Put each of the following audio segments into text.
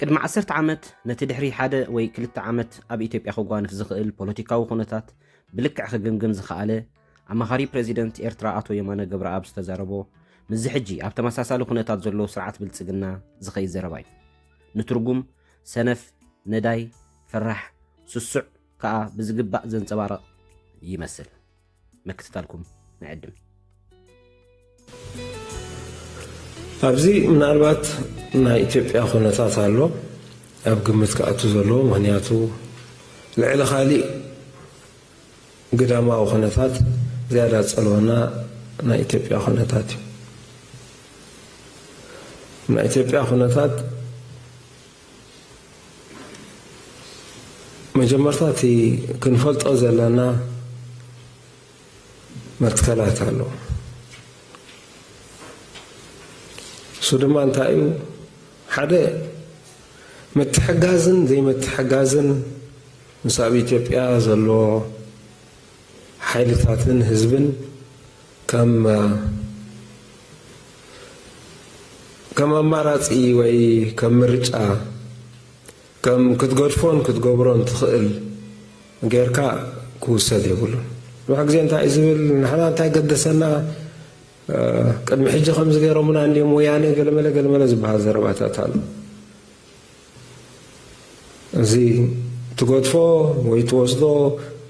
ቅድሚ ዓሰርተ ዓመት ነቲ ድሕሪ ሓደ ወይ ክልተ ዓመት ኣብ ኢትዮጵያ ክጓንፍ ዝኽእል ፖለቲካዊ ኩነታት ብልክዕ ክግምግም ዝኸኣለ ኣማኻሪ ፕረዚደንት ኤርትራ ኣቶ የማነ ገብረኣብ ዝተዛረቦ ምስዚ ሕጂ ኣብ ተመሳሳሊ ኩነታት ዘሎ ስርዓት ብልጽግና ዝኸይድ ዘረባ እዩ ንትርጉም ሰነፍ ነዳይ ፈራሕ ስሱዕ ከኣ ብዝግባእ ዘንጸባርቕ ይመስል። ምክትታልኩም ንዕድም ኣብዚ ምናልባት ናይ ኢትዮጵያ ኩነታት ኣሎ ኣብ ግምት ክኣቱ ዘለዎ ምክንያቱ ልዕሊ ካሊእ ግዳማዊ ኩነታት ዝያዳ ፀልወና ናይ ኢትዮጵያ ኩነታት እዩ ናይ ኢትዮጵያ ኩነታት መጀመርታ እቲ ክንፈልጦ ዘለና መትከላት ኣሎ እሱ ድማ እንታይ እዩ ሓደ ምትሕጋዝን ዘይምትሕጋዝን ምስ ኣብ ኢትዮጵያ ዘሎ ሓይልታትን ህዝብን ከም ከም ኣማራጺ ወይ ከም ምርጫ ከም ክትገድፎን ክትገብሮን ትኽእል ጌርካ ክውሰድ የብሉን። ብዙሕ ግዜ እንታይ እዩ ዝብል ንሕና እንታይ ገደሰና ቅድሚ ሕጂ ከምዚ ገይሮምና እንዲዮም ወያነ ገለመለ ገለመለ ዝበሃል ዘረባታት ኣሎ። እዚ ትገድፎ ወይ ትወስዶ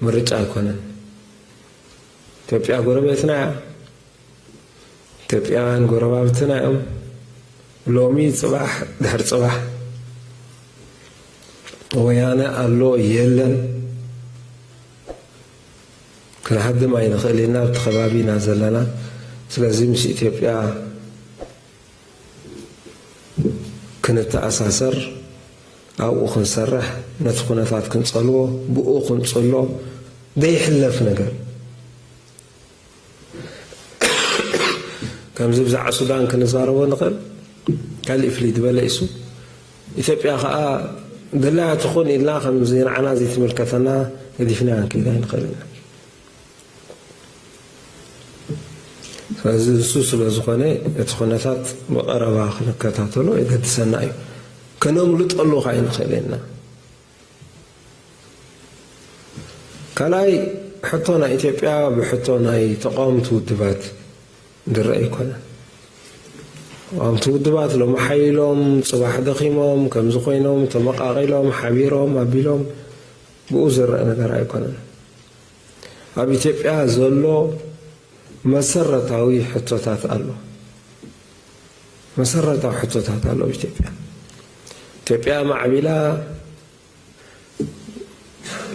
ምርጫ ኣይኮነን። ኢትዮጵያ ጎረቤትና እያ። ኢትዮጵያውያን ጎረባብትና እዮም። ሎሚ ፅባሕ ድሕር ፅባሕ ወያነ ኣሎ የለን ክንሃድም ኣይንኽእል ኢና ኣብቲ ከባቢ ኢና ዘለና ስለዚ ምስ ኢትዮጵያ ክንተኣሳሰር፣ ኣብኡ ክንሰርሕ፣ ነቲ ኩነታት ክንጸልዎ፣ ብኡ ክንጽሎ ዘይሕለፍ ነገር ከምዚ ብዛዕባ ሱዳን ክንዛረቦ ንኽእል ካልእ ፍልይ ዝበለ ኢሱ ኢትዮጵያ ከዓ ድላያ ትኹን ኢልና ከምዚ ንዓና ዘይትምልከተና ገዲፍናያ ክንከይድ ኣይንኽእል ኢና ስለዚ እሱ ስለ ዝኾነ እቲ ኩነታት ብቐረባ ክንከታተሎ የገድሰና እዩ። ከነምልጠሉ ካይ ንኽእል ኢና። ካልኣይ ሕቶ ናይ ኢትዮጵያ ብሕቶ ናይ ተቃወምቲ ውድባት ድረእ ኣይኮነን። ተቃወምቲ ውድባት ሎሚ ሓይሎም ፅባሕ ደኺሞም ከምዚ ኮይኖም ተመቃቂሎም ሓቢሮም ኣቢሎም ብኡ ዝረአ ነገር ኣይኮነን። ኣብ ኢትዮጵያ ዘሎ መሰረታዊ ሕቶታት ኣሎ መሰረታዊ ሕቶታት ኣሎ ኣብ ኢትዮጵያ ኢትዮጵያ ማዕቢላ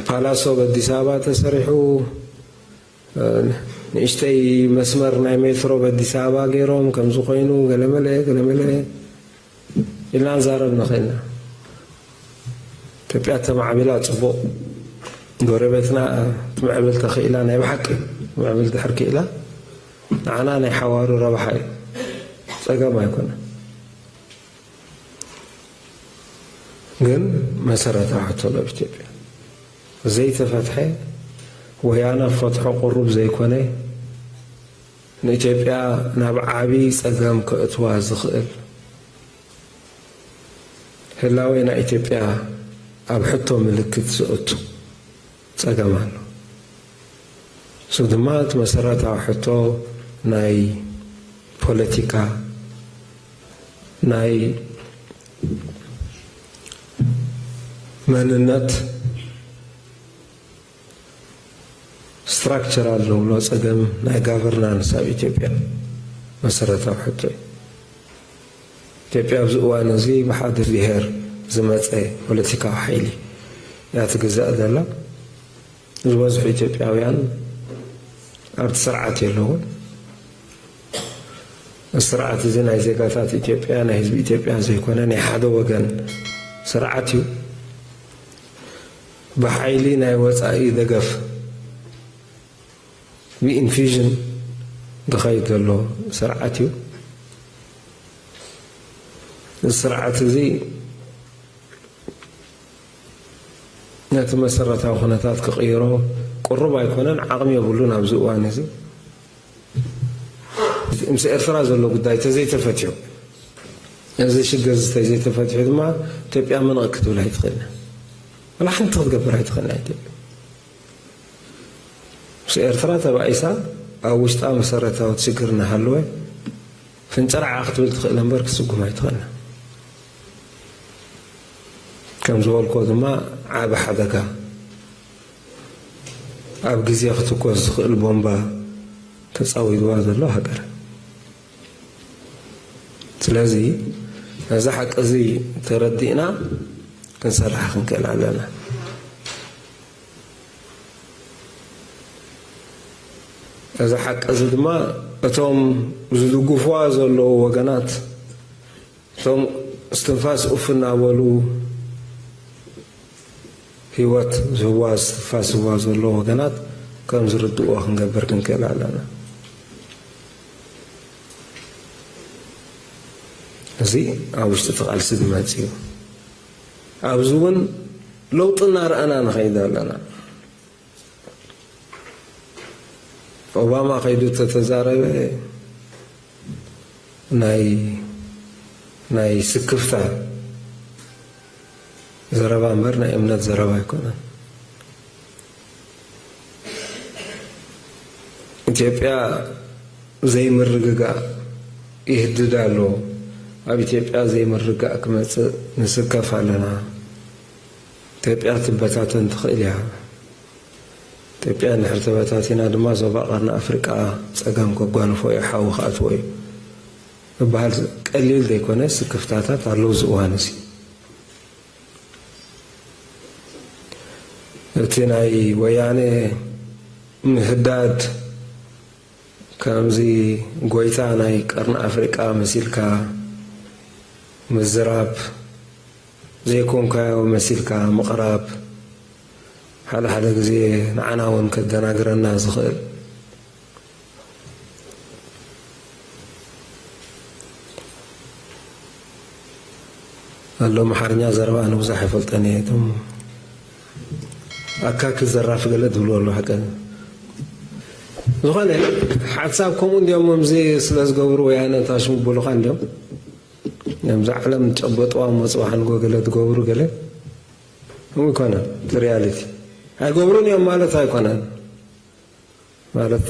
ፓላሶ በዲስ ኣበባ ተሰሪሑ ንእሽተይ መስመር ናይ ሜትሮ በዲስ ኣበባ ገይሮም ከምዚ ኮይኑ ገለመለ ገለመለ ኢልና ንዛረብ ንኽእል ኢና። ኢትዮጵያ ተማዕቢላ ፅቡቕ፣ ጎረቤትና ትምዕብል ተኽኢላ ናይ ብሓቂ ትምዕብል ድሕር ክኢላ ንዓና ናይ ሓዋሩ ረብሓ እዩ፣ ፀገም ኣይኮነን። ግን መሰረታዊ ሕቶ ዶ ኢትዮጵያ ዘይተፈትሐ ወያነ ፈትሖ ቁሩብ ዘይኮነ ንኢትዮጵያ ናብ ዓቢ ጸገም ከእትዋ ዝኽእል ህላዌ ናይ ኢትዮጵያ ኣብ ሕቶ ምልክት ዘእቱ ጸገም ኣሎ። እሱ ድማ እቲ መሰረታዊ ሕቶ ናይ ፖለቲካ ናይ መንነት ስትራክቸራል ንብሎ ፀገም ናይ ጋቨርናንስ ኣብ ኢትዮጵያ መሰረታዊ ሕቶ እዩ። ኢትዮጵያ ኣብዚ እዋን እዚ ብሓደ ብሄር ዝመፀ ፖለቲካዊ ሓይሊ እያ ትግዛእ ዘላ። ዝበዝሑ ኢትዮጵያውያን ኣብቲ ስርዓት የለውን። እዚ ስርዓት እዚ ናይ ዜጋታት ኢትዮጵያ ናይ ህዝቢ ኢትዮጵያ ዘይኮነ ናይ ሓደ ወገን ስርዓት እዩ። ብሓይሊ ናይ ወጻኢ ደገፍ ብኢንፊዥን ዝኸይድ ዘሎ ስርዓት እዩ። እዚ ስርዓት እዚ ነቲ መሰረታዊ ኩነታት ክቕይሮ ቅሩብ ኣይኮነን፣ ዓቕሚ የብሉን ኣብዚ እዋን እዚ። ምስ ኤርትራ ዘሎ ጉዳይ ተዘይተፈትሑ እዚ ሽግር እዚ ተዘይተፈትሑ ድማ ኢትዮጵያ ምንቕ ክትብል ኣይትኽእልን ወላ ሓንቲ ክትገብር ኣይትኽእልን ኢትዮጵያ ምስ ኤርትራ ተባኢሳ ኣብ ውሽጣ መሰረታዊ ሽግር እናሃለወ ፍንጨርዓ ክትብል ትኽእል እምበር ክስጉም ኣይትኽእልን ከም ዝበልኮ ድማ ዓቢ ሓደጋ ኣብ ግዜ ክትኮስ ዝኽእል ቦምባ ተጻዊርዋ ዘሎ ሃገር ስለዚ ነዚ ሓቂ እዚ ተረዲእና ክንሰርሕ ክንክእል ኣለና እዚ ሓቂ እዚ ድማ እቶም ዝድግፍዋ ዘለዉ ወገናት እቶም እስትንፋስ ኡፍ እናበሉ ህይወት ዝህዋ ዝስትንፋስ ዝህዋ ዘሎ ወገናት ከም ዝርድእዎ ክንገብር ክንክእል ኣለና። እዚ ኣብ ውሽጢ እቲ ቃልሲ ዝመጽ እዩ። ኣብዚ እውን ለውጢ እናረኣና ንኸይድ ኣለና። ኦባማ ከይዱ ተተዛረበ ናይ ናይ ስክፍታ ዘረባ እምበር ናይ እምነት ዘረባ ኣይኮነን። ኢትዮጵያ ዘይምርግጋእ ይህድድ ኣሎ። ኣብ ኢትዮጵያ ዘይምርጋእ ክመፅእ ንስከፍ ኣለና። ኢትዮጵያ ክትበታተን ትኽእል እያ። ኢትዮጵያ እንድሕር ተበታቲና ድማ ዞባ ቀርኒ ኣፍሪቃ ጸገም ከጓንፎ እዩ፣ ሓዊ ክኣትዎ እዩ ዝበሃል ቀሊል ዘይኮነ ስክፍታታት ኣሎ ኣብዚ እዋን እዚ። እቲ ናይ ወያነ ምህዳድ ከምዚ ጎይታ ናይ ቀርኒ ኣፍሪቃ መሲልካ ምዝራብ፣ ዘይኮንካዮ መሲልካ ምቕራብ ሓደ ሓደ ግዜ ንዓና ውን ከደናግረና ዝኽእል ኣሎ ኣምሓርኛ ዘረባ ኣነ ብዙሕ ኣይፈልጠን እየ እቶም ኣካኪ ዘራፊ ገለ ትብሉ ኣሎ ሓቀ ዝኾነ ሓሳብ ከምኡ እንዲኦም ምዚ ስለ ዝገብሩ ወያነ ታሽሙ ብሉኻ እንዲኦም ናብዛ ዓለም ጨበጥዋ መጹ ሓንጎ ገለ ዝገብሩ ገለ ከምኡ ኣይኮነን እቲ ሪያሊቲ ኣይገብሩን እዮም ማለት ኣይኮነን ማለት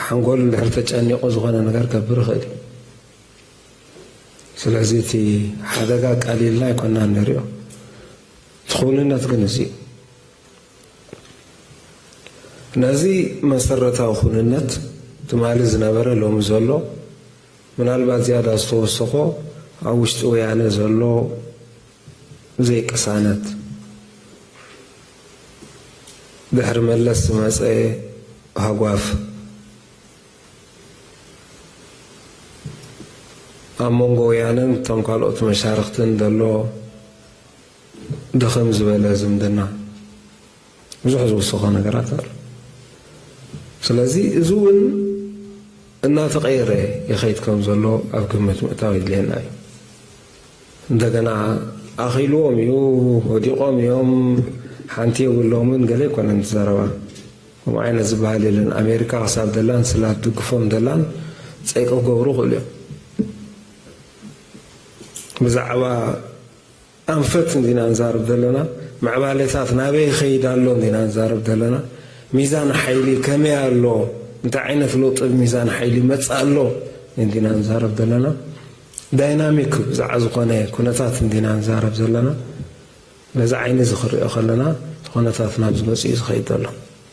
ሓንጎል እንድሕር ተጨኒቑ ዝኾነ ነገር ገብር ይኽእል እዩ ስለዚ እቲ ሓደጋ ቀሊልና ኣይኮና ንሪኦ እቲ ክውንነት ግን እዚ እዩ ነዚ መሰረታዊ ኩንነት ትማሊ ዝነበረ ሎሚ ዘሎ ምናልባት ዝያዳ ዝተወሰኾ ኣብ ውሽጢ ወያነ ዘሎ ዘይቅሳነት፣ ድሕሪ መለስ ዝመጸ ሃጓፍ፣ ኣብ መንጎ ወያነን እቶም ካልኦት መሻርኽትን ዘሎ ድኽም ዝበለ ዝምድና፣ ብዙሕ ዝውስኾ ነገራት ኣሎ። ስለዚ እዚ እውን እናተቐየረ ይኸይድ ከም ዘሎ ኣብ ግምት ምእታው የድልየና እዩ። እንደገና ኣኺልዎም እዩ ወዲቖም እዮም ሓንቲ የብሎምን ገለ ኣይኮነን ትዘረባ ከምኡ ዓይነት ዝበሃል የለን ኣሜሪካ ክሳብ ደላን ስላ ትድግፎም ደላን ፀይቂ ክገብሩ ክእሉ እዮም ብዛዕባ ኣንፈት እንዲና ንዛረብ ዘለና፣ ምዕባሌታት ናበይ ይኸይድ ኣሎ እንዲና ንዛረብ ዘለና፣ ሚዛን ሓይሊ ከመይ ኣሎ፣ እንታይ ዓይነት ለውጢ ኣብ ሚዛን ሓይሊ ይመጽእ ኣሎ እንዲና ንዛረብ ዘለና፣ ዳይናሚክ ብዛዕባ ዝኾነ ኩነታት እንዲና ንዛረብ ዘለና፣ በዚ ዓይኒ እዚ ክሪኦ ከለና እቲ ኩነታት ናብዚ መጺኡ ዝኸይድ ዘሎ።